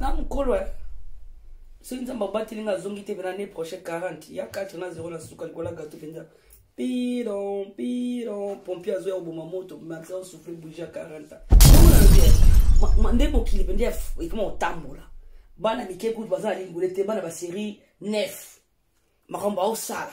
na mokolo eh. soki nzambe abateli nga azongi te pena ne proche 40 ya 4 na 0 na suka likola gato mpenza piron piron pompier azoya koboma moto maxa osufri bouge ya 40 ans nde mokili mpenza ekoma kotambola bana mike kutu baza na lingole te bana baserie 9 makambo aosala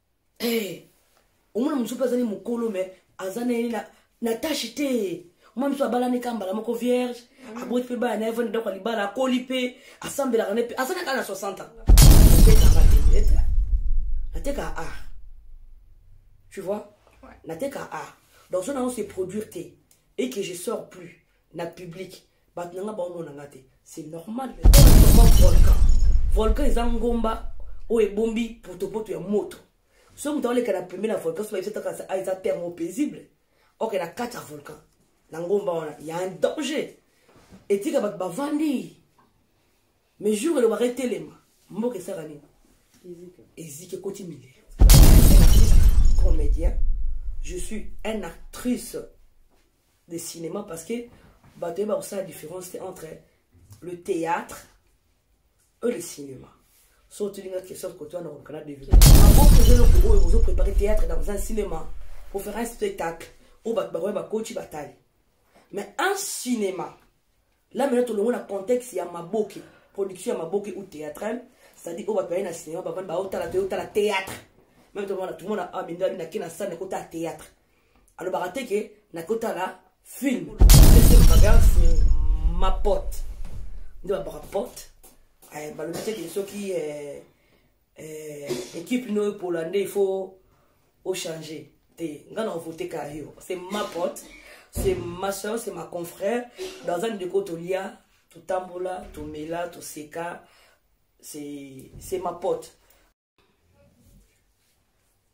hey, omona mosusu mpe azali mokolo me aza na ye na, na tashi te mwa mosusu abalani ka mbala moko vierge mm. aboti mpe bana na ye vani ndako ya libala akoli mpe asambelaka ne mpe aza kaka na 60 ans nateka a tu vois nateka a donc so nango se produire te et que je sors plus na public bato na nga baomona nga te c'est normal volcan volcan eza ngomba oyo ebombi potopoto ya moto soki moto aoleka na pembe na volcan so bayebisa taka ah, eza terme paisible oke na kati ya volcan na ngomba wana ya un danger etika bato bavandi mais jour elobaka etelema mboka esaka nini eziki ekoti milio comédien je suis un actrice de cinéma parce que bato yeba kosala différence te entre le théâtre et le cinéma so otilinga question koto wana kolukana devineaboko oyo ozo prépare théâtre dans un cinéma pour faire un spectacle oyo bato bakoya bakoci batali mais un cinéma là maintenant tolongo na contexte ya maboke production ya maboke ou théâtrale c'est-à-dire oyo bato baye na cinéma bavandi baotala te otala théâtre meme tomona tomona awa mindo abi nake na sale nakotala théâtre alobaka te ke nakotala film ma pote nde babaka pote balobi te ke soki eh, eh, equipe no epola nde il faut ochanger te nga na ovote ka yo c'est ma pote c'est ma soeur c'est ma confrère dans un ndeko tolia totambola tomela toseka c'est ma pote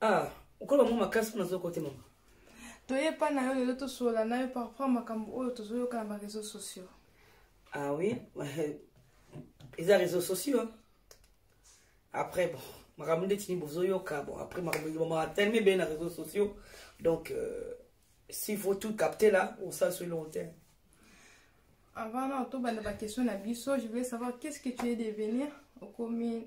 ah okola bango makasi mpo nazoyoka te mama toye epai na yo lelo tosolola na yo par rapport makambo oyo tozoyoka na bareseau sociaux ah oui eza réseau sociaux hein? après bon makambo nde tini bozoyoka bon après makambo elobamaka telema ebele na réseau sociaux donc euh, s'il faut tout capter là osala so elongo te avant na otobanda baquestion na biso je voulais savoir qu'est ce que tu es devenir okomi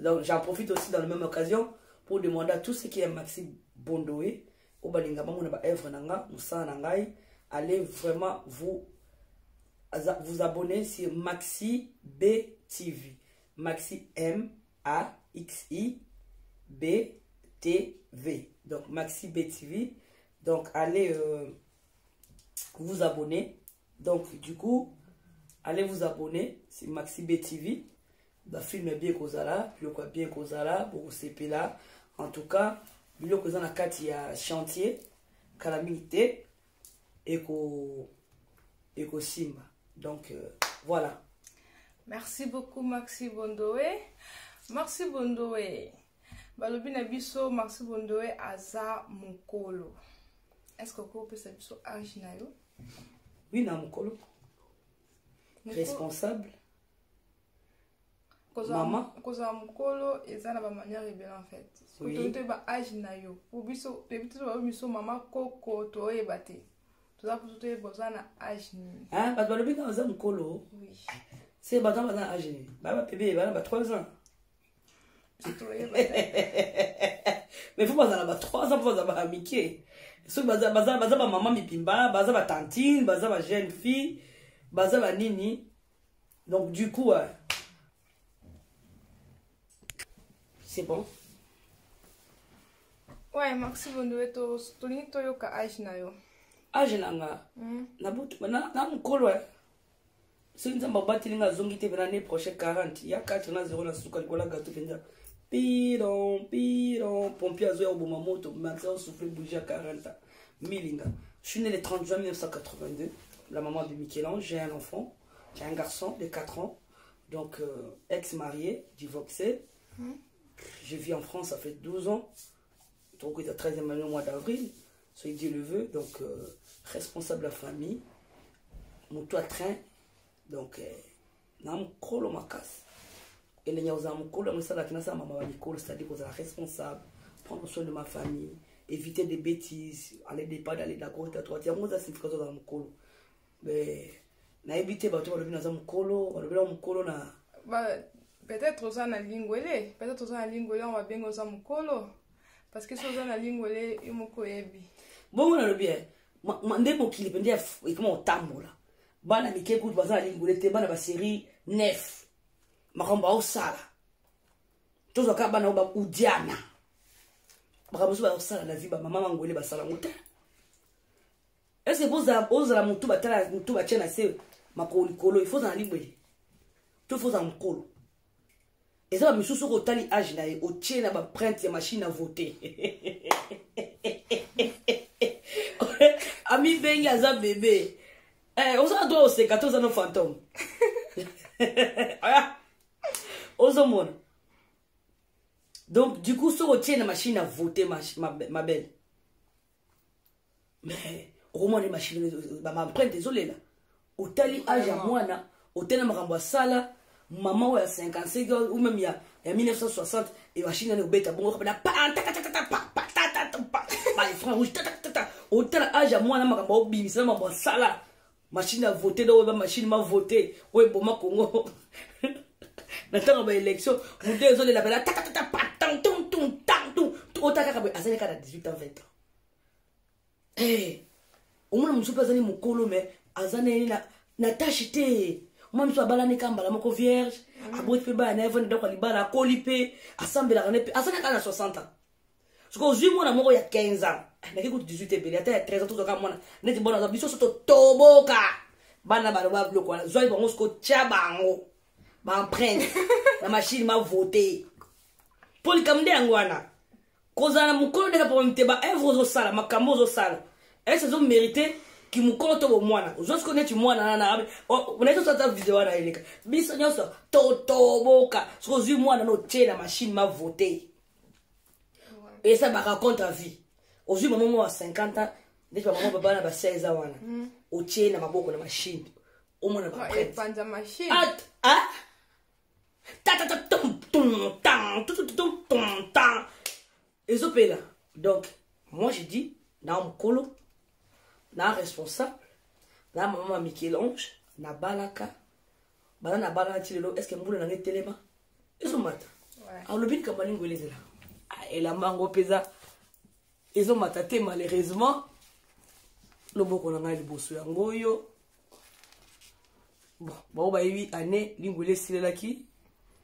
Donc j'en profite aussi dans la même occasion pour demander à tous ceux qui aiment Maxi Bondoé, au balinga bango na ba œuvre nanga, musana nangai, allez vraiment vous vous abonner sur Maxi B TV. Maxi M A X I B T V. Donc Maxi B TV. Donc allez euh, vous abonner donc du coup allez vous abonner c'est maxi b tv bafilme ya bien ekozala biloko ya bien ekozala bokosepela en tout cas biloko eza na kati ya chantier kala mingi te ekosimba donc euh, voilà merci beaucoup maxi bondoe maxi bondoe balobi na biso maxi bondoe aza mokolo est ce que okopesa biso age na yo oui na mokolo responsable mama kozala mokolo eza na bamanière ebele en fait kotoyi toyeba age na yo po biso toyebi te bayo biso mama koko toyeba te toza kutu toyeba oza na age nini ah, bato balobi kaka oza mokolo se bato baza na age nini baa bapebe bana ba 3 ans mais faut bazala ba 3 ans faut bazala ba mike soki baza baza baza ba maman mipimba baza ba tantine baza ba jeune fille baza ba nini donc du coup euh, c'est bon ouais maxi bondowe to tolingi toyoka age na yo age na nga na butu na mokolo soki nzambe abateli nga azongi te pena ne prochain 40 ya 4 na 0 na suka likolo ya gato mpenza piron piron pompier azoya koboma moto maxa osouffle bouge ya 40 milinga je suis né le 30 juin 1982 la maman de michel-ange j'ai un enfant j'ai un garçon de 4 ans donc euh, ex marié divorcé mm. je vis en france ça fait 12 ans tokokuta 13e année mois d'avril soki dieu le veut donc euh, responsable ya famille motu ya train donc euh, na mokolo makasi elengi ya kozala mokolo yango esalaki nasala mama ba mikolo c'est-à-dire kozala responsable prendre soin de ma famille éviter des bêtises aller départ aller d'accord ta droite yango eza signification ozala mokolo nayebi te bato balobi naza mokolo balobela mokolo na peut-être oza na lingwele peut-être oza na lingwele yango babengi oza mokolo parce que so oza na lingwele yo moko oyebi bongo nalobi eh, nde mokili mpe nde ekoma kotambola bana mike kutu baza na lingwele te bana baserie nef makambo aosala tozwa kaka bana oyo baudiana makambo mosusu baosala na vi bamama mangwele basala yango te est ce que bozala ozala mutu batala mutu batya na se makolo likolo ifo ozala libwele to ifo ozala mokolo eza ba misusu soki otali age na ye otie na baprinte ya machine a vote amibengi aza bebe eh, oza droit oseka te oza no fantome ah. ozomona donc du coup soki otie na machine a vote ma, ma, ma belle mais okomona nde mashine bamaemprinte ezolela otali age ya mwana otali makambo asala mama oyo ya 55 ou même ya, ya 1960 emashine nani obeta bongo kaka na patatatatatapatatapaefran rouge tatatata otala age ya mwana makambo aobimisa na makambo asala machine ya vote nde oyeba machine ma vote oyo eboma kongo na ntango ya baélection moto ezolela pela tatatata patantuntuntantu ota kaka boye azali kaka na 18 ans 20 ans eh, omona mosusu mpe azali mokolo me aza nayeni na tache te mwa mosusu abalani ka mbala moko vierge mm. aboti mpe bana na ye vanda ndako ya libala akoli mpe asambelaka ne mpe azali kaka na 60 ans soki ozwi mwana moko ya 15 ans naki kutu 18 ebele ata ya 13 ans tozwaka mwana neti bona aza biso so totoboka bana baloba biloko wana zwaki bango soki otya bango baemprinte na mashine mavote mpo likambo nde yango wana kozala na mokolo ndeka papa mite baevre ozosala makambo ozosala ese ezomerite kimokolo to bomwana ozwa sikoyo neti mwana nanabe nayebi oso ata video wana eleka biso nyonso totoboka soki ozwi mwana na otie na mashine mavote eza ba raconte à vie ozwi mama moko ya 50 ans ndeti bamama baba na ba 16 ans wana mm. otie na maboko na machine omona baprèteata ezopela donc moi je dis na mokolo na responsable na mama michel-ange nabalaka bana na bana ti lelo estce mbula na ngai etelema ezomata alobi likambo alingo elezela ah, elamba yango mpenza ezomata te malheureusement loboko na ngai liboso yango oyo bon bango bayebi année lingwele esilelaki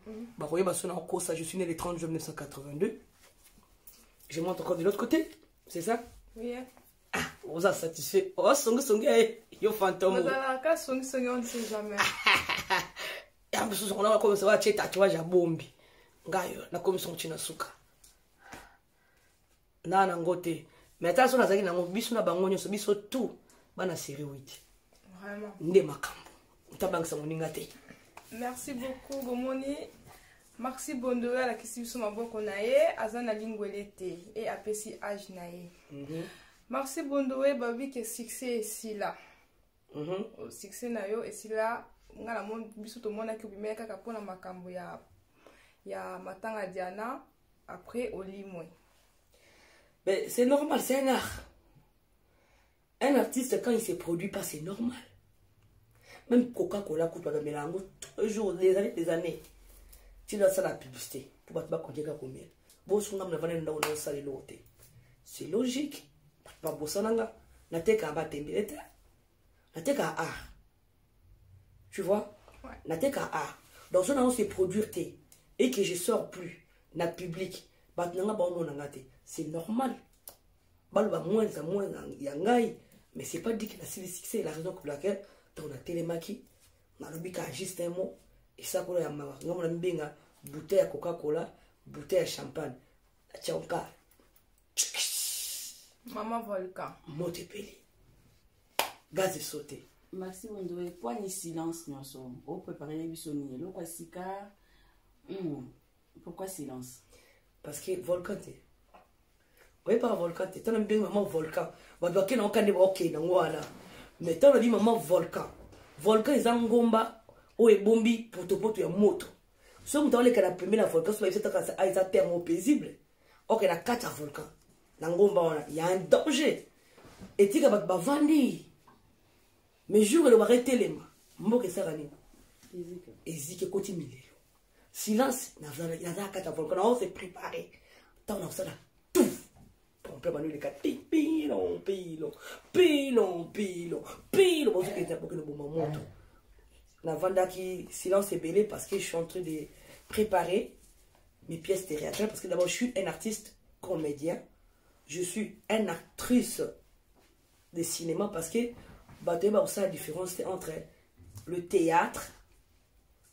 mhm. bakoyeba so na kosa je suis né le 30 juin 1982 je monte encore de l'autre côté c'est ça oui, yeah. ah oza satisfait oza oh, songisongi ya eh, yo fantome ozalaka songisongi on ne sait jamais ya mosusu kona bakomisa batie tatouage ya bombi ngayo nakomisa yango ti na suka na nango te mais ata so nazalaki nango biso na bango nyonso biso tout bana serie witi nde makambo otabangisa moninga te merci beaucoup bomoni maxi bondolo alakisi biso maboko na ye aza na lingwele te e apesi age na ye mm -hmm. maxi bondoe babi ke succès esila mm -hmm. succès na yo esila nga na biso tomonaki obimela kaka mpona makambo ya ya matanga diana après olimwe c'est normal c'est un art Un artiste quand il se produit pas c'est normal. Même Coca-Cola kutu bamela yango un jour des années des années. Ti na sala publicité pour bato bakonjeka komela. Bosunga mna vana ndako na sala eloko te. C'est logique. Bato babosana nga nateka batembele te. Nateka art. Tu vois? Ouais. Nateka art. Donc ça on se produire te et que je sors plus na public. Bato na nga baomona nga te. C'est normal. baloba moins ya moins ya ngai mais c'est pas dit que nasili succès la raison pour laquelle ntango natelemaki nalobi ka juste un mot esakolo ya mawa ngai mona mibenga bouteille ya coca cola bouteille ya champagne natyanka mama volcan moto epeli gaz esote maxi mondoe mpo ani silence nyonso oprepare na biso nini eloko ya sika hmm. Pourquoi silence Parce que volcan te. Oye pas volcan te. Tana mbengi maman volcan. Ba doit kena okande ba okay na ngwana. Mais tana bi maman volcan. Volcan eza ngomba o ebombi potopoto ya moto. So mutu oleka na pembe na volcan so ba yebisa kaka ah, eza terme paisible. Okay na kata volcan. Na ngomba wana il y a un danger. Etika ba bavandi. Mais jour elobaka etelema. Mboka esaka nini? Ezike. Ezike koti milelo. silence nazala kati ya volcan na ose prépare ntango nakosala tout pompe bano eleka te pilo pilo pilo pilo pilo bozokende bokende boma moto navandaki silence ebele parce que je suis en train de préparer mes pièces théâtrales parce que d'abord je suis un artiste comédien je suis un actrice de cinéma parce que bato yeba kosala différence te entre le théâtre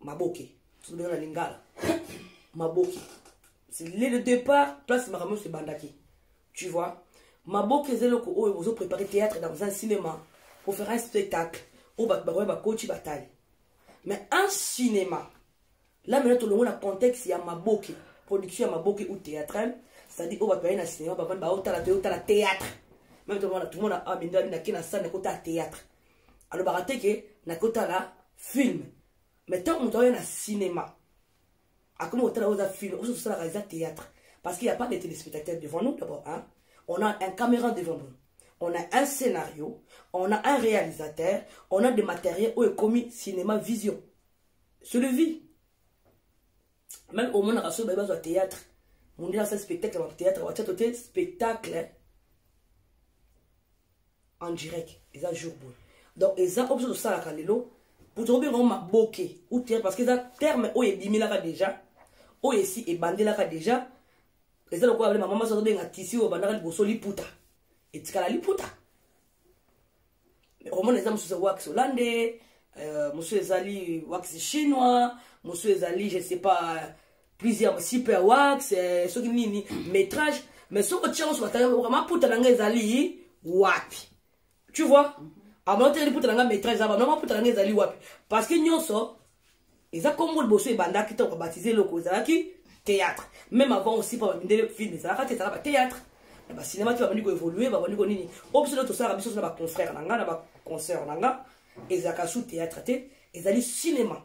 maboke tolobi na lingala maboke c'est le départ place makambo nyonso ebandaki tu vois maboke eza eloko oyo bozo prépare théâtre dans un cinéma pour faire un spectacle oyo bato bakoya bakoti batali mais un cinéma la mena tolongo na contexte ya maboke production ya maboke ou théâtrale c'est-à-dire oyo bato baye na cinéma bavandi baotala toyotala théâtre meme tomona tomona amindani nake na sane kotala théâtre alobaka te ke nakoki kotala film mais ntango moto aoya na cinéma akomi kotala oyo eza film oso tosalaka eza théâtre parce qu'il y a pas de téléspectateurs devant nous d'abord hein? on a un caméra devant nous on a un scénario on a un réalisateur on a des matériels oyo ekomi cinéma vision c'est le vie même omonaka soki baye bazwa théâtre mondele asali spectacle ya théâtre watya to te spectacle en direct eza jour boye donc eza oyo biso tosalaka lelo tokobenga yango maboke ou terre parce que eza terme oyo ebimelaka déjà oyo esi ebandelaka déjà eza lokola bale mama maso azobenga tisi oyo bandaka liboso liputa etikala liputa omona eza mosusu ya wax hollande euh, mosusu ezali wax chinois mosusu ezali je sais pas prise ya super wax eh, soki nini métrage mais soki otia oso batanga maputa na ngai ezali wapi tu vois abana otekeli puta na ngai métrage aba na maputa na ngai ezali wapi parce que nyonso eza kombo liboso ebandaki ntango babatize eloko ezalaki théâtre même avant aussi mpo bamindele film ezalaka te ezalaka bathéâtre na bacinema ti babandi koévolue babandi konini oyo biso nde tosalaka biso so na baconfrère na ngai na baconcert na ngai ezalaka sous théâtre te ezali cinéma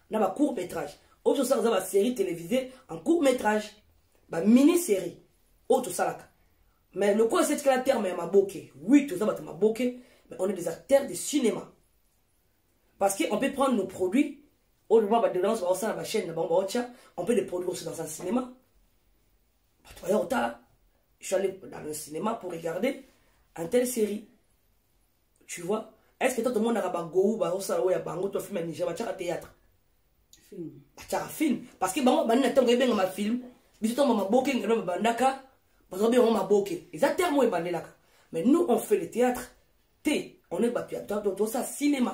na ba court métrage oyo tosalaka eza basérie télévisé en court métrage bamini série oyo tosalaka mais lokola esi etikala terme ya maboke oui toza bato maboke mais on est des acteurs de cinéma parce que on peut prendre nos produits oyo loba badelance baosala bachaîne na bango baotya on peut les produire aussi dans un cinéma bato baya kotala je suis allé dans le cinéma pour regarder un tel série tu vois est ce que to tomonaka bagou bazosala oyo ya bango to film ya niger batiaka théâtre batiaka film parce que bango bandi na ntango ebengama film biso ntango bamaboke ngelo babandaka bazobe yango maboke eza terme oyo ebandelaka mais nous on fait le théâtre te on est bato ya tosala cinéma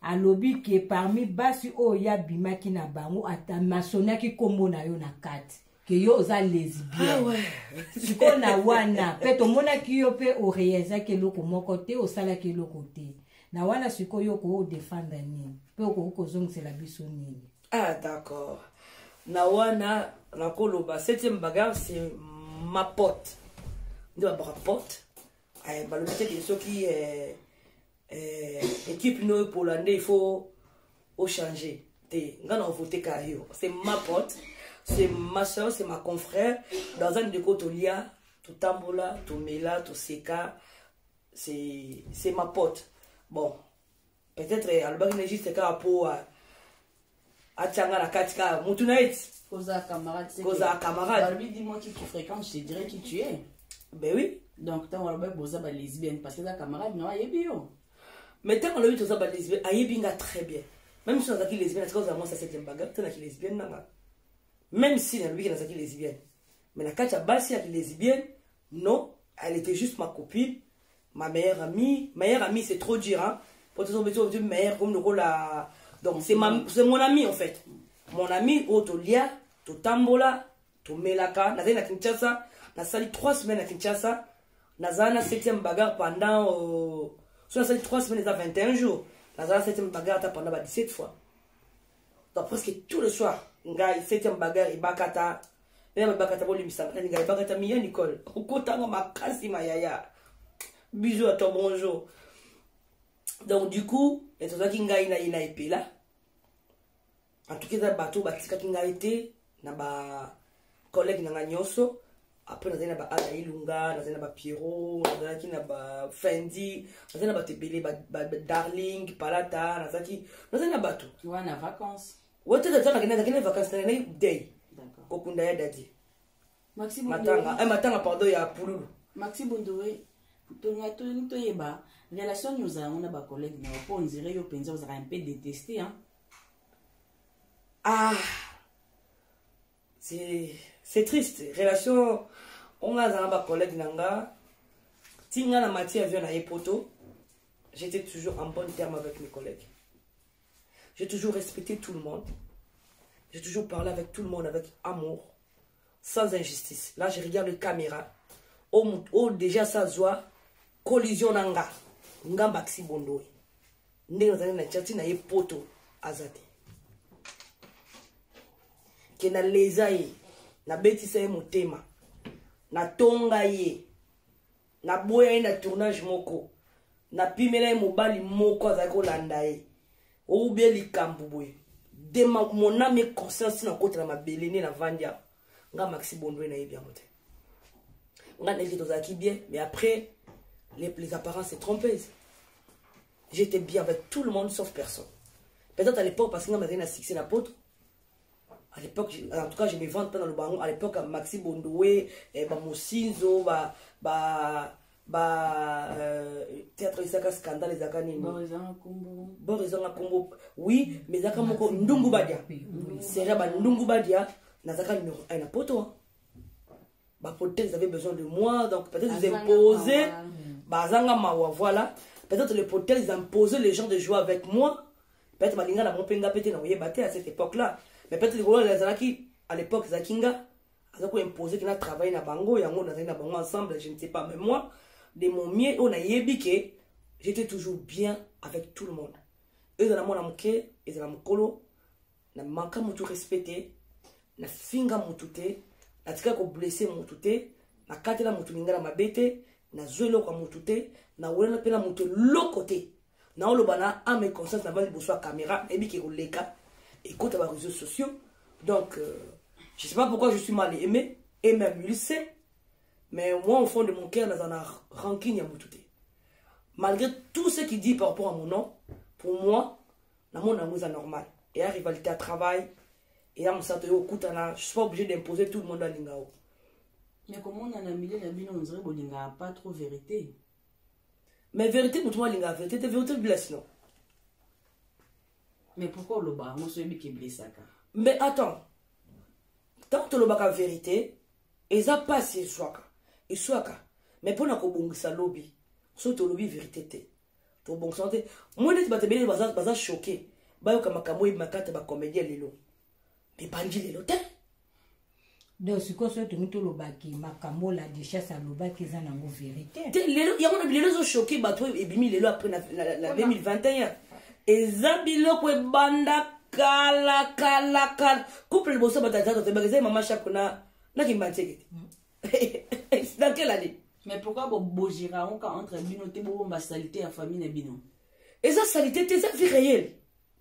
alobi ke parmi basi oyo ye abimaki na bango masoniaki nkombo na yo na kati ke yo oza lesbienne ah sikoyo na wana mpe tomonaki yo mpe orealizaki eloko moko te osalaki eloko te na wana sikoyo yo okoki odefendre nini mpe okoki kozongisela biso nini ah d'accord na wana nakoloba septième bagarre c'est ma pote nde babaka pote eh, balobi te ke soki eh, eh, equipe no epola nde il faut ochanger te nga na ovote ka yo c'est ma pote c'est ma soeur c'est ma confrère dans un ndeko tolia totambola tomela toseka c'est c'est ma pote bon peut-être alobaki na juste kaka mpo atia nga na kati kaka mutu na ye ti kozala camarade c'est kozala que- camarade balobi dis moi qui tu fréquente je te dirai qui tu es ben oui donc ntango alobi boza ba lesbienne parce que eza camarade na yo ayebi yo mais ntango alobi toza balesbienne ayebi nga très bien même si nazalaki lesbienne atika ozala mwasi ya septième bagarre te na kilesbienne nanga même si nalobi ke nazalaki lesbienne mais na kati ya basi ya kilesbienne non elle était juste ma copine ma meilleure amie meilleure amie c'est trop dur hein po tozo bezo bezo meilleure comme lokola donc c'est ma mm. c'est mon ami en fait mon ami oyo tolia totambola tomelaka nazali na kinshasa nasali 3 semaines na kinshasa nazala na 7e bagarre pendant euh, so nasali 3 semaines eza 21 jours nazala 7e bagarre ata pendant ba 17 fois donc presque tout le soir ngai 7e bagarre ebakata na babakata bolimbisanga na ningana bakata miya nicole okotanga makasi mayaya bizu ya to bonjour donc du coup tozwaki ngai na ye na epela antuka eza bato oyo batikaki ngai te na bacollègue na ngai nyonso apres nazali na baala ilunga nazali na bapiero nazalaki na bafendi nazali na bato ebele badarling palata nazalaki nazali na bato wana vacance Wote da zaka kina kina vacances na ngai day. Kokunda ya dadi. Maxi Bundowe. Matanga, eh matanga pardon ya pululu. Maxi Bundowe. Tonga to ni to yeba relation ni ozala ngona ba collègue na po on dirait yo penza ozaka un peu détesté hein. Ah. C'est c'est triste relation on a zanga ba collègue na nga tinga na matière vient na epoto j'étais toujours en bon terme avec mes collègues J'ai toujours respecté tout le monde. J'ai toujours parlé avec tout le monde avec amour, sans injustice. Là, je regarde les caméras. Oh, oh déjà, ça se voit. Collision nanga. Nga maxi bondoe. Ndenge nazali na chati na ye poto aza te. Ke na leza ye, na betisa ye motema, na tonga ye. naboya ye na tournage moko napimela ye mobali moko azali kolanda ye oubie likambo boye de moname e conscience nakotela mabele nde navandi awa nga maxi bondwe nayebi yango te nga nayebi tozalaki bien mais après les, les apparences trompeuses j'étais bien avec tout le monde sauf personne peut-être à l'époque parce que nga mazali na succès na poto à l'époque en tout cas je me vante pas dans le bango à l'époque maxi bondowe eh, bamosinzo ba, ba ba euh, théâtre ezaka scandale ezaka nini bor ezanga nkombo oui mais ezaka moko ndungu badia seria bandungu badia nazaka numero 1 na poto ba politiques avaient besoin de moi donc peut-être ils imposaient bazanga mawa voilà peut-être les politiques ils imposaient les gens de jouer avec moi peut-être balinga na mpe nga mpe te na koyeba te à cette époque là mais peut-être likolo ezalaki à l'époque ezalaki nga aza koimpose kina travaille na bango yango nazali na bango ensemble je ne sais pas mais moi de mon mieux oyo nayebi ke j'étais toujours bien avec tout le monde ezala mwana moke ezala mokolo na manka mutu respect te na finga mutu te natikali koblesse mutu te nakatela mutu lingala mabe te nazwi eloko ya mutu te nawelana mpe na mutu eloko te naoloba na ame conscience na va liboso ya caméra nayebi ke koleka ekota ba réseaux sociaux donc euh, je sais pas pourquoi je suis mal aimé et même il sait mais moi au fond de mon cœur naza na rancune ya mutu te malgré tout ce qui dit par rapport à mon nom pour moi na mona yango eza normal eya rivalité ya travail eya mosato yo okutana je suis pas obligé d'imposer tout le monde alinga yo mais komona na milieu na bino ondire bolingaka pas trop vérité mais vérité motu alingaka vérité te vérité blesse non mais pourquoi olobaka yango so oyebi keblesaka mais attends ntango tolobaka vérité eza mpasi eswaka eswaka mais mpo na kobongisa lobi soki tolobi vérité te tobongisana te moi neti bato ebele baza, baza choke bayoka makambo oyebi makata bacomédien lelo ebandi lelo te donc sikoyo soki tongi tolobaki makambo oyo la duchesse alobaki eza nango verité te lelo yango na bilelo ezochoke bato oyo ebimi lelo après na 2021 eza biloko ebanda kala kala kala couple liboso bato ya tata tobaka eza mama shako na na kimbansekete mm. dans quelle année mais pourquoi bobojira oka entre bino te bobomba salite ya famille na bino eza salite te eza vie réelle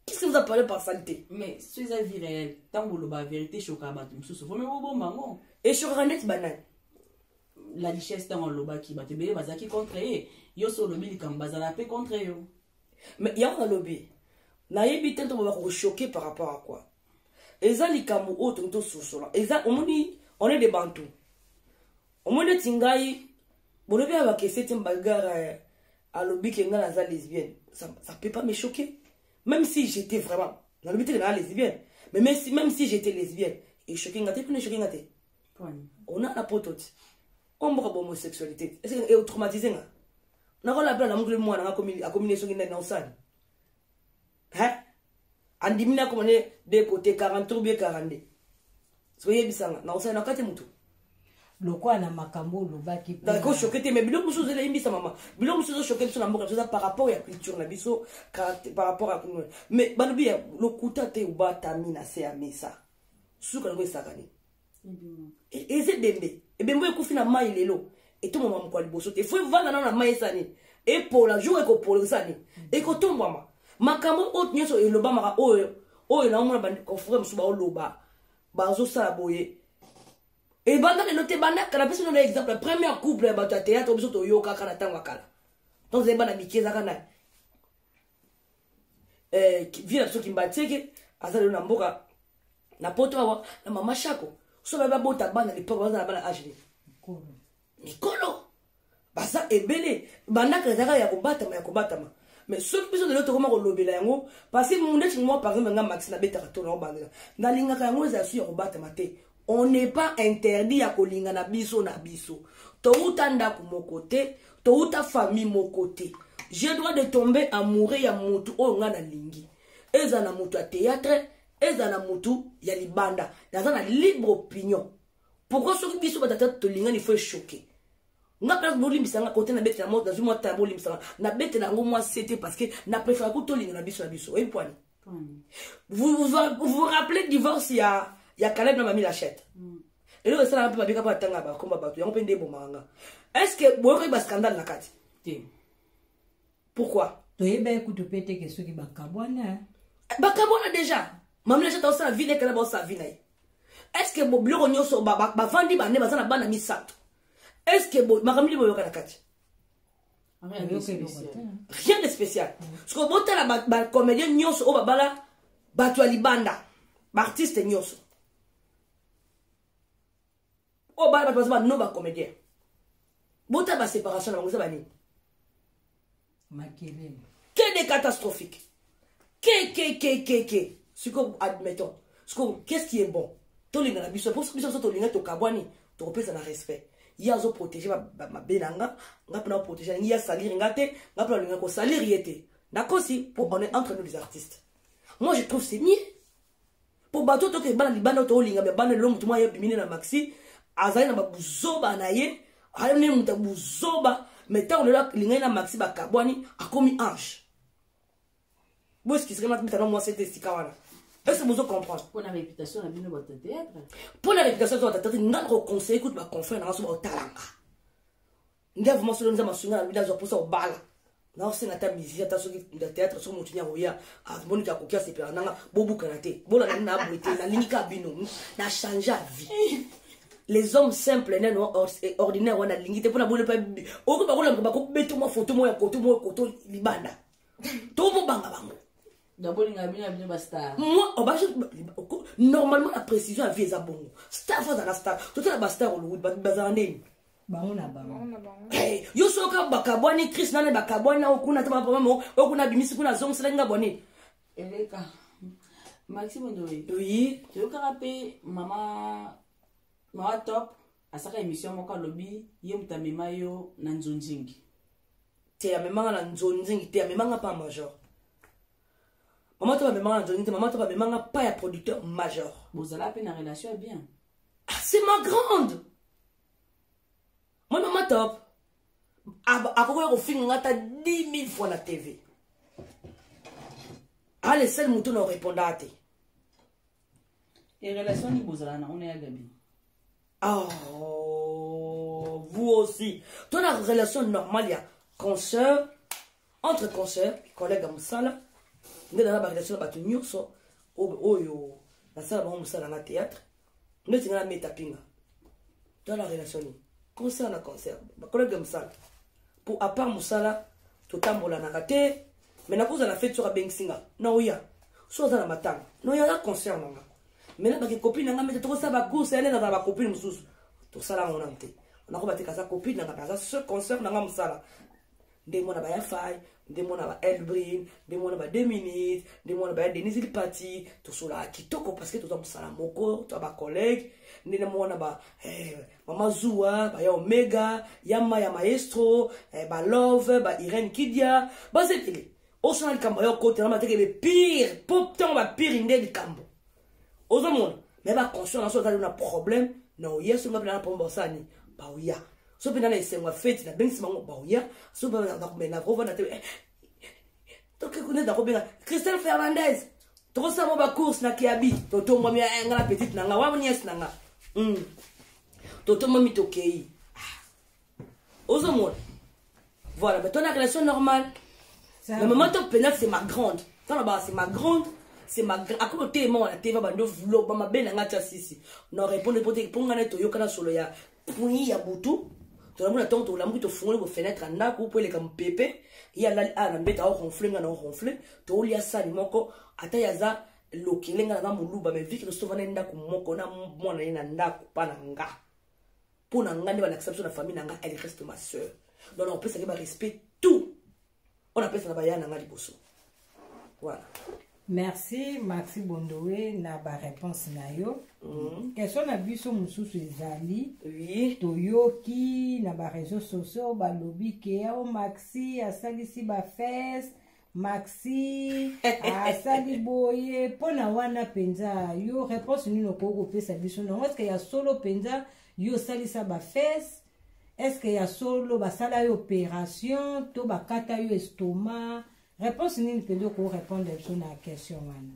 qu'est ce que vous a parlé par salite mais so eza vie réelle ntango oloba vérité eshokaka bato mosusu vraimen bobomba yango eshokaka ndeti banani la richesse ntango alobaki bato ebele bazalaki contre ye yo so olobi likambo bazala mpe contre yo mais yango nalobi nayebi te nto bakokochoke par rapport à quoi eza likambo oyo tokoki tososola eza omoni on est de bantu omoni neti ngai bolobi ya bakese te mbagara eh, alobi ke ngai naza lesbienne ça, ça peut pas me choquer même si j'étais vraiment nalobi te ke naa lesbienne mais même si, même si j'étais lesbienne echoke nga te mpona echoke nga te ona na poto te oyo mboka bahomosexualité te ese etraumatise nga nakolabela na mokili mwana akomi ne soki nani na osani hein andimi na koma ne de côté 43 ou bien 42 soyebisa nga nakosala na kati motu lokola na makambo olobaki kosoke te mai biloko mosusu ozela yebisa mama biloko mosusu ezosoke biso na mboka biso eza par rapport ya culture na biso par rapport ya mais balobi ya lokuta te obatami na se ya mesa suka yango esakani e, eza ebembe ebembe ekufi na mai lelo etombwama mokolo ya liboso te fo evanda nano na mai eza nini epola jour ekopola eza nini mm. ekotombwama makambo oyo nyonso elobamaka oyo oyo naomona baconfrere mosusu baoloba bazosala boye ebanda lelo te banda kala biso nona exemple ya première couple ya bato ya théâtre biso toyokaka na ntango ya kala donc ezali bana mike ezaka na eh, vie na biso kimbatieke aza lelo na mboka na poto awa na mama shako so babi babota bana lipoko baza na bana age mikolo baza ebele bandaka ezalaka ya kobatama ya kobatama mais soki biso lelo tokoma kolobela yango parce mundeti mwa par exemple nga maxi nabetaka to nao bandela nalingaka yango ezala su ya kobatama te on n'est pas interdit ya kolingana biso na biso touta ndako moko te touta famille moko te je droit de tomber amoureux ya motu oyo ngai nalingi eza na motu ya théâtre eza na motu ya libanda naza na libre opinion pourkoi soki biso batata tolingani fo echoke nga mpe bolimbisa nga kote nabetela mo nazwi mwa tala bolimbisa nga nabetela yango mwa sete parce que na préfère kutolinga na biso na biso oyebi pwani vous vous, vous, vous rappelez divorce ya ya Caleb na Mami Lachette mm. lelo esalaka mpe babika mpo atanga bakomba bato yango mpe nde ebomaka nga est ce que boyokoki bascandale na kati te pourquoi toyebaki kutu mpe teke soki bakabwana eh? eh, bakabwana déjà Mami Lachette aosala vi na Caleb aosala vi na ye est ce que biloko nyonso bavandi bane baza na bana misato est ce que makambo nini boyoka na kati rien de spécial sikoyo botala bacomédien nyonso oyo babala bato ya libanda baartiste nyonso oyo bana bato baza bano bacomédien botala baséparation na bango eza banini makelele que de catastrophique kkkkk siko admettons siko qu'est-ce qui est bon tolingana biso mpo biso biso tolinga tokabwani tokopesa na respect ye azoprotege mabe na nga nga mpona koprotege alingi ye asalire nga te nga mpona olinga kosalire ye te nakosi mpo on est entre nous les artistes moi je trouve c'est mieux mpo bato toke ebana libanda oyo toolinga me bana lelo motu mwa ye bimine na maxi azali na babuzoba na ye ayamne moto ya buzoba me ntango lelo alingani na maxi bakabwani akomi ange bosikisaka mati mitana mwasi ete esika wana ese bozo comprendre mpo na réputation na bino bato théâtre mpo na réputation ya bato théâtre nga nakoconseille kutu baconfrère nanga so baotalanga nde vraimen solo nza masunga na bino azwa mposa obala naosenga ata musicien ata soki na théâtre soki motu nyako ya amoni ka koki asepela nanga bobukana te bolanda naboye te nalingi ka bino na change ya vie les hommes simples nano eh, ordinaire wana alingi te mpo na bole mpe okoki bakolamba bakobeto mwa foto moko ya koto moko koto libanda to mobanga bango normalement la précision ya vie eza bongo star fo azala star totala bastar hollywood bazala ndeni bango na bango eh, yo soka bakabwani cris nane bakabwani na okuna te baproblème okuna abimisi kuna azongiselaki nga bwanini eleka maxime ndoye oyi toyokaka mpe mama mama top asaka émission moko alobi ye moto amema yo na nzonzingi te amemanga na nzonzingi te amemanga mpa major mama top amemanga na nzonzingi te mama top amemanga mpa ya producteur major bozala mpe na relation ya bien ah, c'est ma grande Mon maman top, akokoya kofinga nga ata 10 000 fois na TV. Ah, le seul mouton na répondra te. Et relation ni bozala na on est à Gabi. Oh, vous aussi. Ton la relation normale, il y a consoeur, entre consoeur, collègue à Moussala, nous avons la relation de Batou Nyoso, Oyo, la salle de Moussala, la théâtre, neti nga na meta pinga toza na relation nini concert na concert bakolege ya mosala mpo apart mosala totambolanaka te mai nakozala fete soki abengisi nga naoya so aza na matanga naoya na concert na nga mai na bakekopine na nga mete tokosala bacourse yane nazala bakopine mosusu tosala yango nano te nakoba te kaza kopine na nga mpe aza se concert na nga mosala ndenge mwana baya fai ndenge mwana ba elbrin ndenge mwana ba deux minutes ndenge mwana baya denise lipati tosolaka kitoko parce que toza mosala moko toza bacollègue ndenge mwana ba eh, mama zuwa baya omega yama ya maestro eh, balove ba irene kidia baza ekele osala likambo ya okotela mateke le pire po ntango bapire nde likambo ozomona me baconscient na so azali na problème na oya soki mapena na problème baosala nini baoya so mpe nana esengo ya feti nabengisi bango baoya so mpe nakomena kovanda te tokekune nakobenga christelle fernandez tokosala mo bacourse na kiabi totombwami ya eh, nga na petite na nga wa niese na nga hmm. totombwami tokei ozomona voilà mais tona relation normale mais maman to pena c'est ma grande tona ba c'est ma grande c'est ma akoma oteyema wana te babando vlo bamabe na ngai tya sisi na répondre po te mpo ngai naye toyokana solo ya pui ya butu tolamona ntango tolamuki tofungoli bofenetre ya ndako mpo eleka mopepe ye alali aya na mbeta aoronfle ngai na oronfle toolia sani moko ata ye aza lokele ngai naza moluba mai viki tosovana ye ndako moko na mwana ye na ndako mpa na nga mpo na ngai nde balakisa biso na famille na ngai elle reste ma soeur donc nakopesaki barespect tout oyo napesa na baya na ngai liboso voilà merci maxi bondowe na bareponse na yo mm. question na biso mosusu ezali oui. toyoki na bareseau sociaux balobi ke o oh, maxi asalisi bafese maxi asali boye mpo na wana mpenza yo réponse nini okoki kopesa biso nango eske ya solo mpenza yo osalisa bafese eske ya solo basala yo opération to bakata yo estoma réponse nini mpenza okoki répondre biso na question wana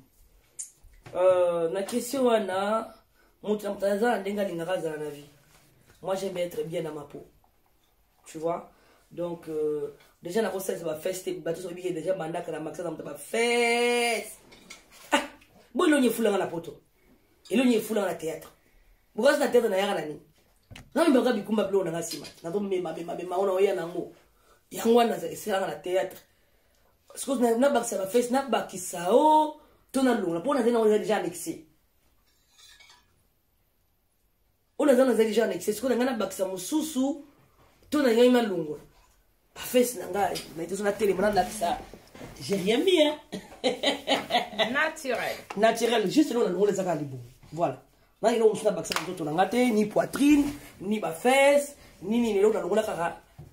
euh, na question wana moto na moto aza na ndenge alingaka azala na vie moi j'aime être bien na mapo tu vois donc euh, déjà nakosalisa bafeste te bato soki bike déjà bandaka na makisa na moto bafeste ah, bo elongi efulanga na poto elongi efulanga na théâtre bokasi na théâtre nayaka na nini namemaka bikumba biloko nanga nsima nazomemamemamema ona oya nango yango wana esalaka na théâtre sikoyo nabakisa bafeste nabakisa o to nalongola mpo nazali nango deja annexe oyo naza nazali genre nexi sikoyo na ngai nabakisa mosusu to na ngai nalongola bafesi na ngai naitoso natelema nalakisa j'ai rien mis hein? naturel naturel juste eloko nalongola ezaka libomo voilà nani eloko mosusu nabakisa na nzoto na ngai te ni poitrine ni bafese ni nini eloko nalongola kaka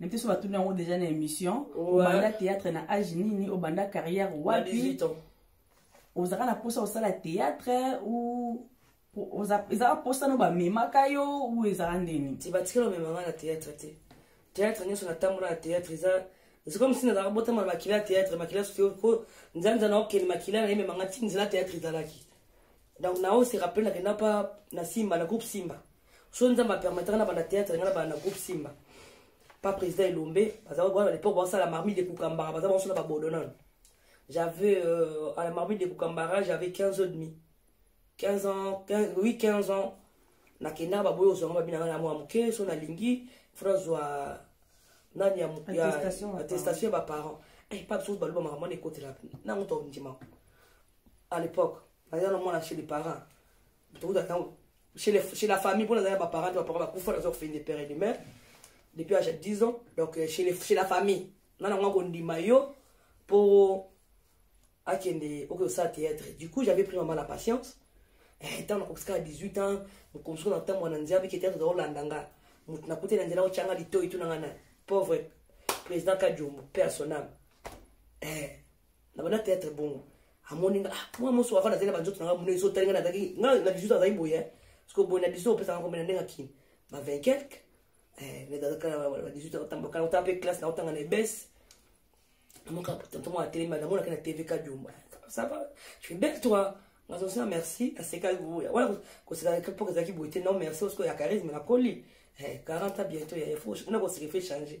na biso batuni yango deja na émission obanda théâtre na age nini obanda carrière wapi ozalaka na mposa osala théâtre ou ezalaka mposa no bamemaka yo ou ezalaka ndeni te batikela omemanga na théâtre te théâtre nyonso natambola na théâtre eza c'est comme si nazalaka botama na makila ya théâtre makila soki ko nzanza na okende makila na ye memanga ti nzela théâtre ezalaki donc nao se rappele nakenda pa na simba na groupe simba so nzambe apermetaka na banda théâtre nga na banda groupe simba pa président elombe baza wana lepoke baosala marmite de kukambara baza baosala babodonan j'avais euh, à la marmite de kukambara j'avais 15 ans demi 15 ans 15, oui 15 ans nakendaka baboyi ozwanga babi nanga na mwa moke so nalingi fona zwa nani ya attestation ya baparent epa biso baloba makambo wana ekotela nango tondimaka à l'époque naza na mwana chez les parents tokuta ntango chez, les, chez la famille mpo nazali na baparent te baparent bakufa naza kofende pere de mare depuis age ya 10 ans donc euh, chez, les, chez la famille nga nango akondima yo mpo akende okoki osala théâtre du coup j'avais pris maman la patience ntango eh, nakokisaka 18 ans mokomisuku na ntango wana nzambe ke théâtre ozakolanda nga moto nakuti na nzela otyanga litoi tuna nga na pauvre président kadiombo père sonam eh, nabanda théâtre bongo amoni nga ah, mwa moso wafana azali na banzoto na nga muna ezo otali nga nazalaki nga na 18 ans azali boye parce que boye na 18 ans opesaka kombe na ndenge akini ba 20 quelque eh, mais nazalaka na ba 18 ans otambaka na otanga mpe classe na otanga na ebese namoka tanto mwana atelema namonaka na tv kadiomba ça va tu es belle toi nazo sina merci asekaki boya wana koseka epoke ezalaki boye te non merci osiko ya charisme nakoli 40 eh, ans bientôt ya efo na koseka efe changer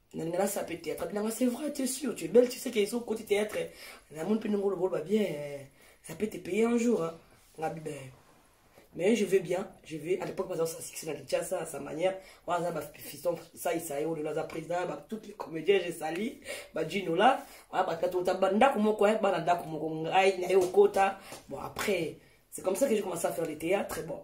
nalinga nasala mpe théâtre abi nanga c'est vrai tu es sûr tu es belle tu sais que soki okoti théâtre namoni mpe ndenge oloboloba bien ça peut te payer un jour hein. ngabi ben mais je vais bien je vais à l'époque baza sa succès na kinshasa à sa manière wana aza bafiston saisa ye olelo aza président ba toutes les comédiens je sali bajino la wana bato bato ota bandako moko ye bana ndako moko ngai na ye okota bon après c'est comme ça que j'ai commencé à faire le théâtre bon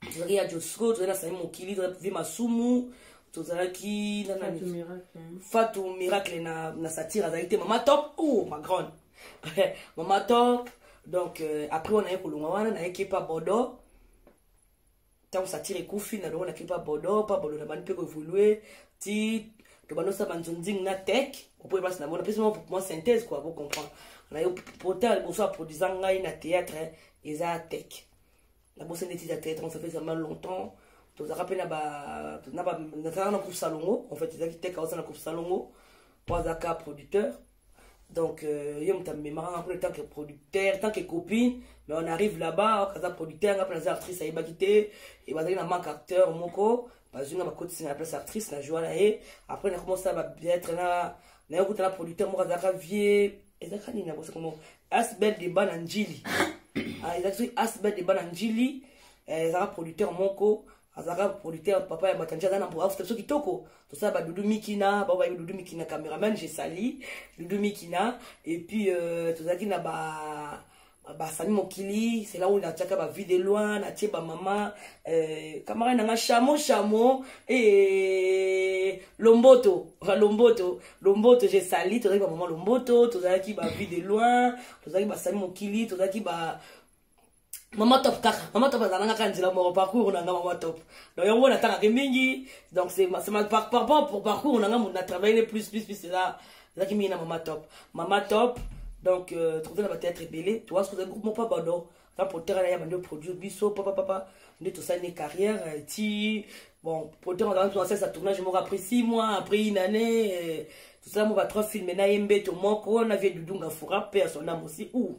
tozalaki ya josco tozali na sami mokili tozali vie masumu tozalaki na nani fatu miracle na, na satire azalaki te mama top o oh, ma grande mama top donc euh, après wana ye kolonga wana nayeki epa bodo ntango satire ekufi na longo na kipa bodo pa bodo na bandi mpe koevolue ti tobanda osala banzonzing na tek opoye place na mona mpesi mwa mwa synthèse kua bocomprendre na yo pota liboso aproduisa ngai na théâtre eza tek nabosani neti ya tete ça fait vraiment longtemps tozalaka mpe na nazalaka na groupe salongo en fait ezalaki teka oza na groupe salongo mpo azalaka producteur donc euh, ye moto amemaka nga mpona tant que producteur tant que copine mais on arrive là-bas aza producteur nga mpe naza actrice ayebaki te e bazalaki na manque acteur moko bazwi nga bakotisi na place actrice na joie na ye après nakomosala babiatre na naye okuta na producteur moko azalaka vieux ezalaka nini nakosa komo asbel deba na njili ah, ezalaki soki asbel deba na njili eh, ezalaka producteur moko azalaka producteur papa ya batanje aza na afuta biso kitoko tosala badudu mikina bao bayebi dudu mikina cameraman je sali dudu mikina epuis euh, tozalaki na ba basani mokili c'est là où natiaka ba vie de loin natie ba mama euh, camarade nanga chamo chamo e lomboto lomboto lomboto je sali tozalaki ba mama lomboto tozalaki ba vie de loin tozalaki basani mokili tozalaki ba mama top kaka mama top azalanga kaka nzela moko parcours nanga mama top donc yango natangaki mingi donc c'est ma, ma par, par, par, pour parcours nanga na travaille plus plus plus eza nazalaki mingi na mama top mama top donc euh, tokozali na bateatre ebele toasi kozali groupe moko pabado na potere na ye bandi oproduire biso papapapa nde tosali ne carrière euh, ti bon potere azalaki tonasalisa tournage moko après six mois après une année euh, tosala mo ba trois filme na ye mbeto moko na vie dudunga fura mpe ya son ame aussi ou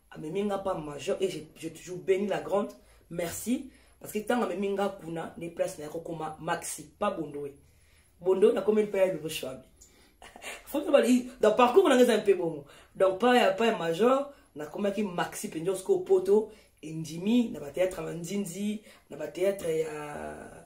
amemi nga pa major et je, je toujours béni la grande merci parce que ntango amemi nga kuna nde place na ya kokoma maxi pa bondoe bondoe nakomeli mpe ya lelo shwabi donc parcours nanga eza mpe bongo donc pa ya pa ya major nakomaki maxi mpenza osiko poto endimi na bateatre ya nzinzi na bateatre ya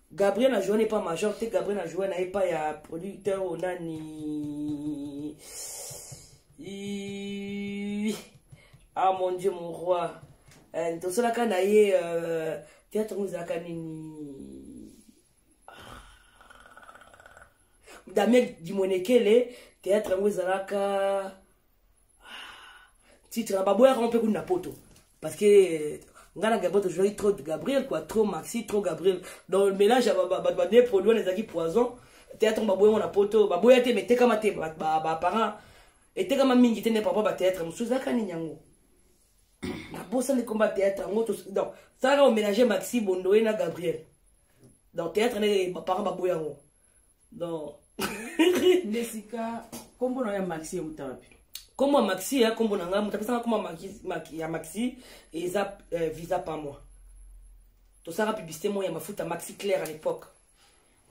Gabriel a joué pas major te Gabriel a joué na ye pas ya producteur ou nani ah mon dieu mon roi eh, tosalaka na ye euh, théâtre ngo ezalaka nini ah. damien dimonekele théâtre yango ezalaka titre baboyaka ngo mpe kuna na poto parce que euh, ngai na gabriel tozwaki trop gabriel quoi trop maxi trop gabriel donc mélange ya bato bane produit wana ezalaki poison théâtre ngo baboya ngo na poto baboya te mais etekama te baparent etekama mingi te nde papa bathéâtre mosusu ezalaka nini yango nabosani komba théâtre yango donc salaka omélange maxi bondoye na gabriel donc théâtre nde baparent baboya yango donc nde sika kombo na yo ya maxi euta wapi kombo ya maxi ya kombo na ngai moto apesanga kombo ya maxi eza euh, visa pa moi tosaka publicité moko ya mafuta maxi claire à l'époque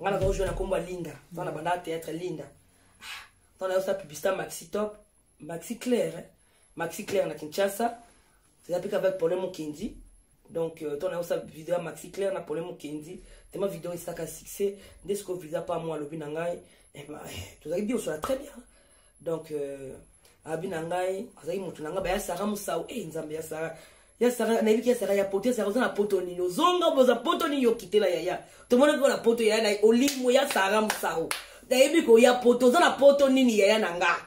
ngai nazaka ojue na kombo ya linda nza na bandaka théâtre linda ntango ah, nayosa publicité maxi top maxi claire eh? maxi claire na kinshasa eza mpe kaka pole mokendi donc euh, ntango nayosa video ya maxi claire na pole mokendi tema video esaka succès nde sikoyo visa pa mwa alobi na ngai eh eh, tozalaki bio sola très bien donc euh, abi na ngai azalaki motu na ngai baya sara mosau e nzambe ya sara ya sara nayebi ki ya sara ya poto ya sara oza na poto nini ozonga boza poto nini okitela yaya tomonaki ko na poto yaya na olimo ya sara mosau nayebi koya poto oza na poto nini yaya na ngai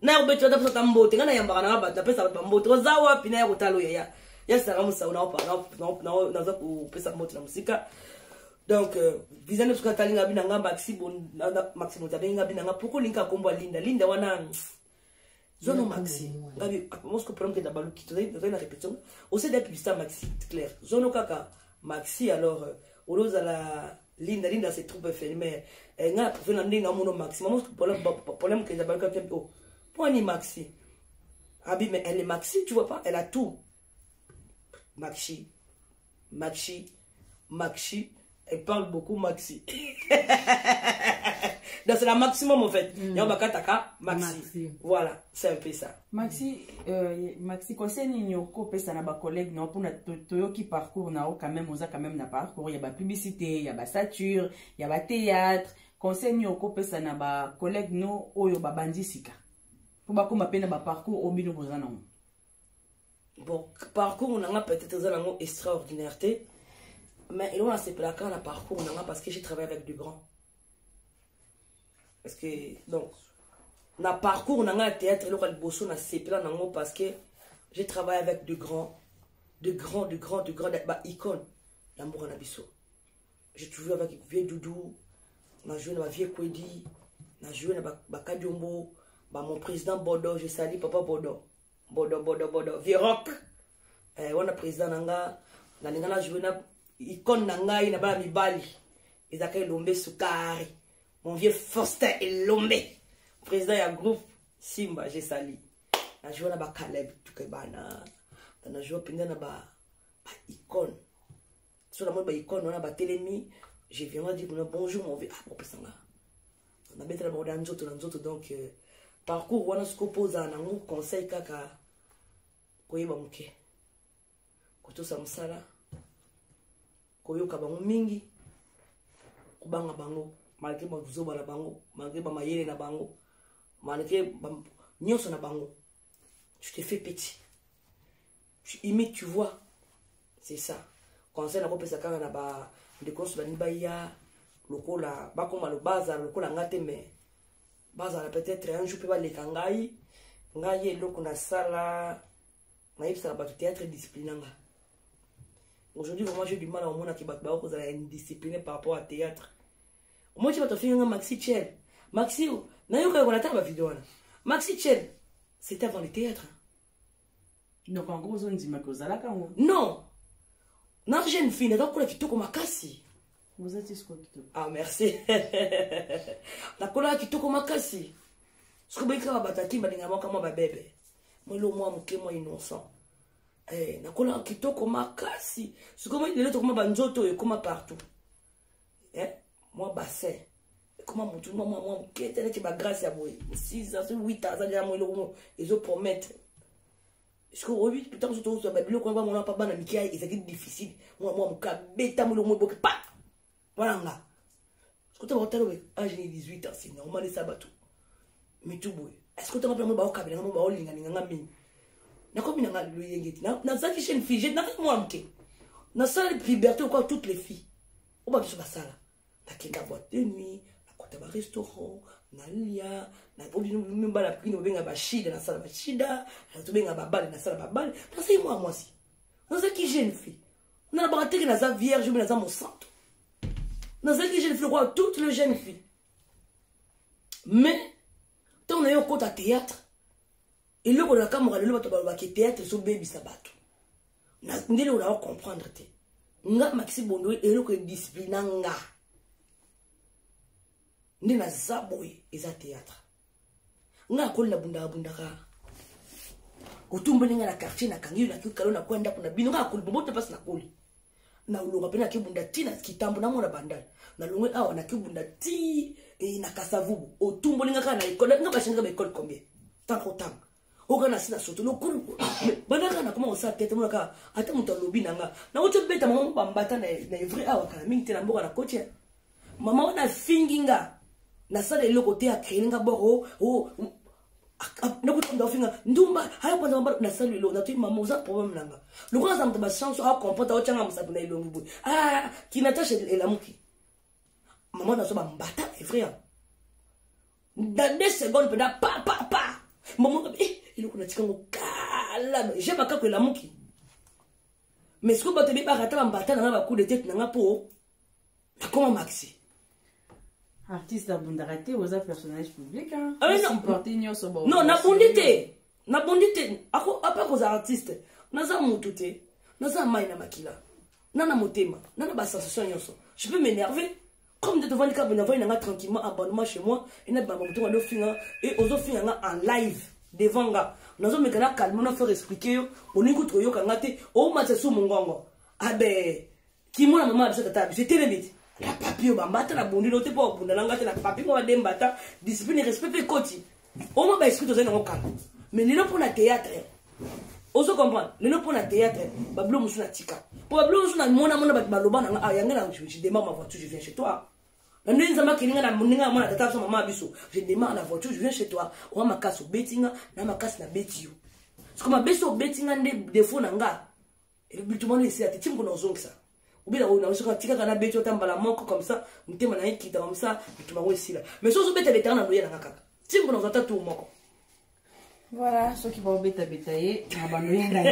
naya kobeti ata pesata mbote ngai nayambaka nanga bato napesa bato bambote oza wapi naya kotala oyo ya ya sanga mosau naza kopesa mbote na mosika donc euh, visa nde soki atali ngai bina ngai maxi moto abengi ngai bina ngai poko olingi akombo ya linda linda wana zono maxi ngai mosko problème kenda baluki tozali na répétition osede publicité ya maxi claire zono kaka Maxi alors olo zala linda linda c'est trop infirmière eh, nga trouve na ndenge amono maxi mama problème problème kenza balka temp oh pour ni maxi abi mais elle est maxi tu vois pas elle a tout maxi maxi maxi elle parle beaucoup maxi donc c'est la maximum en fait mm. yamba kataka maxi. maxi voilà c'est un peu ça maxi euh, maxi conseil nini okopesa na bacollègue na yo mpona toyoki parcours na yo quand même oza quand même na parcours ya bapublicité ya basature ya bathéâtre conseil nini okopesa na bacollègue no oyo babandi sika mpo bakóma mpe na baparcours oyo bino boza nango bon parcours na nga peut-être eza nango extraordinaire te mais eloko nasepelaka na parcours na nga parce que j'ai travaille avec du grand parce que donc na parcours na ngai ya théâtre eloko ya liboso na sepela nango parce que j'ai travaillé avec de grands de grands de grands de grands ba icône ya mboka na biso j'ai toujours avec vieux doudou na joué na ba vieux kwedi na joué na bakadiombo ba, ba mon président bodo je sali papa bodo bodo bodo bodo vieux rock eh, wana président na nga nalinga na joué na icone na ngai na bana mibali ezalaka elombe sukari mon vieux faustin elombe président ya groupe simba jesali najua na bacaleb tuke bana najua mpenza na baicone so namoni baicone wana batelemi je viendra dire kuna bonjour mon vieux ah opesa nga nabetela bango na nzoto na nzoto donc euh, parcours wana soki opozala nango conseil kaka koyeba moke kotosa mosala koyoka bango mingi kobanga bango malgre bazoba na bango malgre bamayele na bango malgre nyonso na bango tu te fais petit tu imite tu vois c'est ça conseil nakopesa kaka na bandeko nyonso balingi baya lokola bakoma bazala lokola nga te mais bazala peut-être un jour mpe baleka ngai ngai eloko nasala nayebisaka bato théâtre disciplina nga aujourd'hui vraiment j'ai du mal à omona ke bato baoki kozala indiscipliné par rapport à théâtre omoti bato afinganga maxi chel maxi nayoka yoko nataka bavideo wana maxi chel c'est avant le théâtre donc en gros ozondima ke ozalaka yango non na jeune fille naza kokola kitoko makasi ah merci nakolaka kitoko makasi soki boyikaka bato akimba ndenge moko mwa babebe mwelo mwa moke mwa innocent eh, nakolaka kitoko makasi sikoyo lelo tokoma banzoto oyo ekoma partout eh, mwa bassin ekoma motu mwa mwa moke te neti bagrace ya boye 6 ans 8 ans azali yango eloko moko ezopromettre sikoyo oyebi ntango so tozwa babiloko wana bamona mpa bana mike ezalaki difficile mwa mwa moke abeta molongo eboki pa wana nga soki tanga otala boye age ni 18 ans c'est normal esa bato mitu boye est-ce que otanga mpe yango baokabela ngambo baolingalinga nga mingi nakomi nanga loyenge te nazalaki chaine fige nazalaki mwana moke nasala liberté okwa toutes les filles oyo bato nyonso basala nakenda boite de nuit nakota barestaurant nalia obinobala pikini obenga bashida nasala bashida tobenga babale nasala babale nazalaki mwana mwasi nazalaki jeune fille nalobaka teke naza vierge obe naza mosanto nazalaki jeune fille lokola toute le jeune fille mais ntango naye okota théâtre eloko nakamwaka lelo bato balobaki théâtre ezobebisa bato ndele oyo nao comprendre te nga makisi bondo eloko edisciplina nga nde naza boye eza théâtre nga akoli na bundaka bundaka otumboli nga na quartier na kangi yo na kikalo na kwa ndako na bino nga akoli boboto pasi na koli na olonga pe na kibunda ti na kitambo na mona bandal na longwe awa na kibunda ti e, na kasavubu otumboli nga kaka na ekole nga bashenga ba ekole combien tango tanga oka na sina soto lokumu banaka na koma kosala tete monaka ata moto alobi na nga nakoti obeta mama bambata na evrai awa kala mingi te na mboka na koti mama wana afingi nga nasala eloko te akrene nga boko oh, oh, nakotonda ofinga ndumba ayakonza mabala nasali eloko natoi mama oza problème nanga lokola aza moto bachance akomprendre aotyanga mosapi na elongi boye ah, kinatashe elamuki mama nazwa bambata evrai dans deux secondes peda pa pa pa mama eh, eloko natika ngo kala je makako elamuki mais sikoyo bato ebebaka ata bambata na nga bakude tete na nga mpo nakoma maxi artiste abundaka te oza personnage public supporte ah, nyonso non nabundi te nabundi te apa kozala artiste naza mutu te naza mai na makila na na motema na na basensation nyonso je peux m'énerver comme nde tovandi kaka bonavandi na nga tranquillement abandoma chez moi enabima bamoto nga dofinga e ozofinga nga en live devant nga nazomeka na calme na faire expliquer yo olingi kutu koyoka nga te omatisa su mongongo abe kimona mama biso tata biso etelemi te na papi oyo bambata na bundi no te mpo obunda na nga te na papi mwa badembata discipline respect mpe ekoti Omo ba esprit tozali nango kala. Mais lelo mpo na théâtre. Ozo comprendre? Lelo mpo na théâtre, ba bilo mosusu na tika. Mpo ba bilo mosusu na mona mona bato baloba na nga, ah yanga na je démarre ma voiture, je viens chez toi. Na ndenge nzambe akeli nga na ndenge na mwana tata biso mama biso, je démarre la voiture, je viens chez toi. Oa makasi obeti nga, na makasi na beti yo. Parce que mabesi obeti nga nde défaut na nga. Et le but wana esi ati, timu kuna ozongisa. obi naosoka tikaka na beti ata mbala moko comme ça motema na ekita comme ça bitu bango esila mais so ozobeta betaka na loye nanga kaka timbo nazwa ata tour moko voilà soki baobetabeta ye na baloye ngai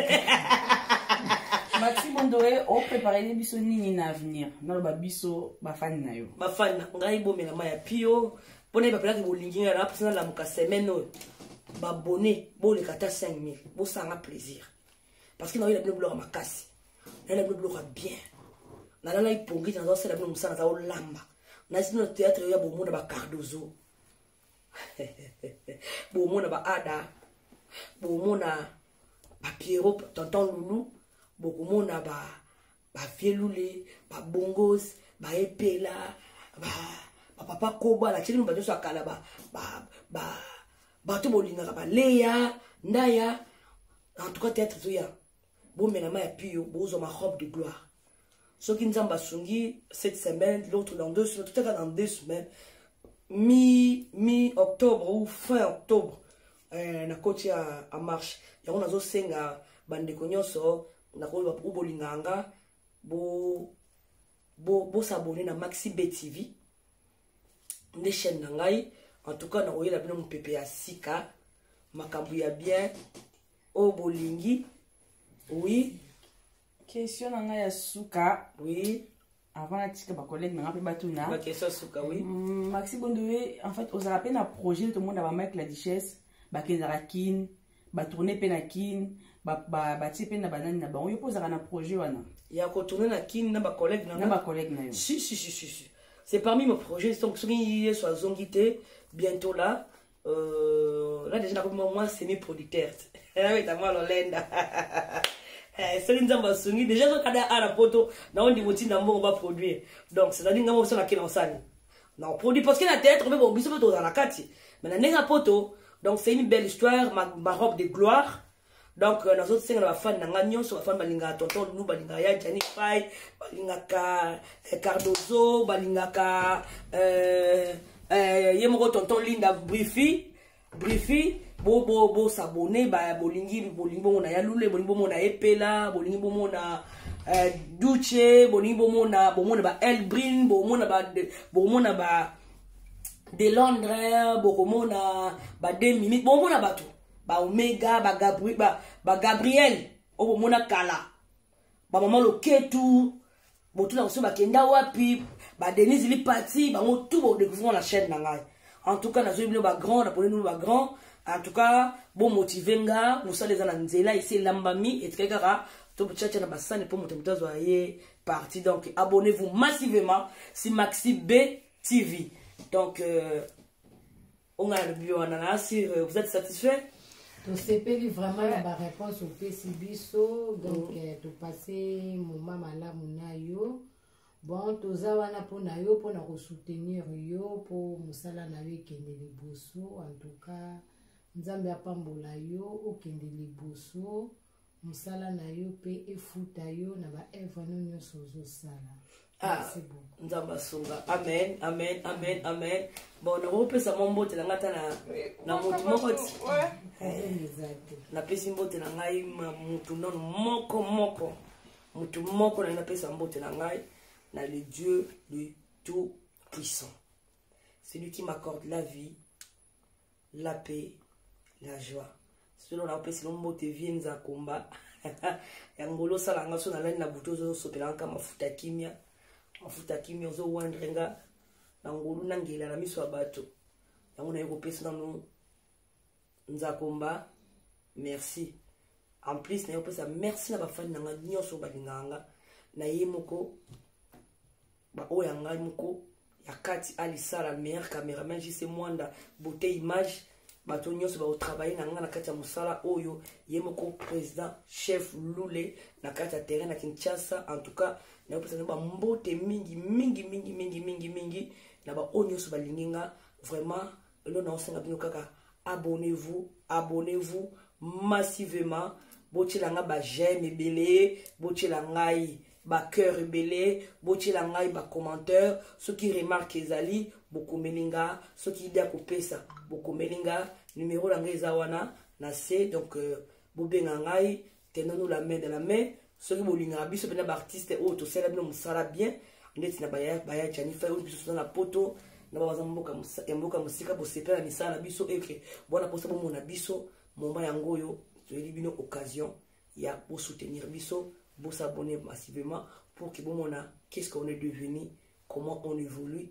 maximo ndoe opreparele biso nini na avenir naloba biso bafani na yo bafani na ngai bomela ma ya pio mpo na ye bapelaki bolingi ngai napesi nalamuka semaine oyo babone boleka ata 5000 bosanga plaisir parce que naoyela bino biloko makasi naye na bino biloko ya bien nalalaki pongi te nazosala bino mosala naza olamba nayesi bino na théâtre yo ya bomona bacardozo bomona baada bomona bapiero tonton lulu bokomona ba bavielule babongos baepela bapapa kobo alakisi bino bato nyonso ya kala bato bolingaka baleya ndaya en tout cas théâtre toya bomela ma ya pio bozwa ma robe de gloire soki nzambe asungi cette semaine l'autre dans deux semaines totaka dans deux semaines mi mi octobre ou fin octobre eh, na koti ya marche yango nazosenga bandeko nyonso nakoyeba po bolingaka nga bo bosabone bo na maxi b tv nde chaîne na ngai en tout cas nakoyela bino mopepe ya sika makambo ya bien oyo bolingi oui question na ngai ya suka oui avant natika bacollègue nanga mpe batuna mm, maxi bondoe en fait ozalaka mpe na projet tomona bamike la duchesse bakendaka kin batourne mpe na kin batie mpe na banani na bango yo mpe ozalaka na projet wana ya kotourne na kin na bacollègue na bacollègue na yo si si si si c'est parmi mes projets donc soki yesu azongi te bientôt là Euh, na deja nakomi mwa semi producteur nabeta mwa lolenda eh, soki nzambe asungi deja ezokada a na poto nao ndimo ntinda mbongo baproduire donc cetadire ngai mobiso nakela osani naoproduire parce que na théâtre mpe bobiso mpe tozala na kati mais na ndenge ya poto donc c'est une belle histoire ma, ma robe de gloire donc euh, nazosenga na bafani na ngai nyonso bafani balingaka tonton lulu balingaka ya jani fai balingaka eh, cardozo balingaka euh, euh, ye moko tonton linda brifi brifi bosabone bolingi bolingi bomona ya lule bolingi bomona epela bolingi bomona duce bolingi bomona bomona ba elbrin bomona ba bomona ba de londres bokomona ba 2 minutes bomona bato ba omega ba, Gabri, ba, ba gabriel oyo bomona kala bamama loketu botuna koso bakenda wapi badenise lipati bango tu bodécouvrir na chaîne na ngai en tout cas nazwi bino bagrand naponi bino bagrand en tout cas bomotive nga mosala eza na nzela esi elambami etikali kaka tobotyatia na basani mpo moto moto azwa ye parti donc abonnez vous massivement si maxi b tv donc euh, onga nalobi wana na sur euh, vous êtes satisfait tosepeli vraiment na baréponse opesi biso donc mm. euh, topase moma malamu na yo bon toza wana mpo na yo mpo na kosoutenir yo mpo mosala na yo ekende liboso en tout cas nzambe apambola yo okende liboso mosala na yo mpe efuta yo na baevre no nyonso ozosala ah, nzambe asunga amen amen amen amen bon nakopesa mwa mbote na ngai ata na motu moko ti napesi mbote na ngai motu nono moko moko motu moko na ngai napesa mbote na ngai na le dieu le tout puissant celui qui m'accorde la vie la paix la joie solo na opesi no mbote vie nzakomba yango olosala nga so nalani na butu ozosopela nka mafuta kimia mafuta kimia ozowandre nga na ngolu na ngela na miso ya bato yango naye kopesa nano nzakomba merci en plus naye kopesa merci na bafani na nga nyonso balingaka nga na ye moko ba oyo ya ngai moko ya kati alisala meilleur cameraman jc mwanda beauté image bato nyonso bakotravaille na ngai na kati ya mosala oyo ye moko président chef lule na kati ya terrain na kinshasa en tout cas nakopesa nao bambote mingi mingi mingi mingi mingi mingi na baoyo nyonso balingi nga vraiment lelo naosenga bino kaka abonnez-vous abonnez-vous massivement botyela ngai bajeme ebele botyela ngai bacoeur ebele botyela ngai bacommentaire soki remarke ezali bokomeli nga soki ide ya kopesa bokomeli nga numero na ngai eza wana na se donc euh, bobenga ngai tenonu la main de la main soki bolingaka biso mpena baartiste oyo tosala bino mosala bien ndeti na baya janifa oyo biso toza na poto na babaza ya mboka mosika bosepela na misala na biso eke bwana mposa bomona biso moma yango oyo toyeli bino occasion ya bosoutenir biso bosabone massivement pour que bomona qu'est ce qu'on est devenu comment on évolue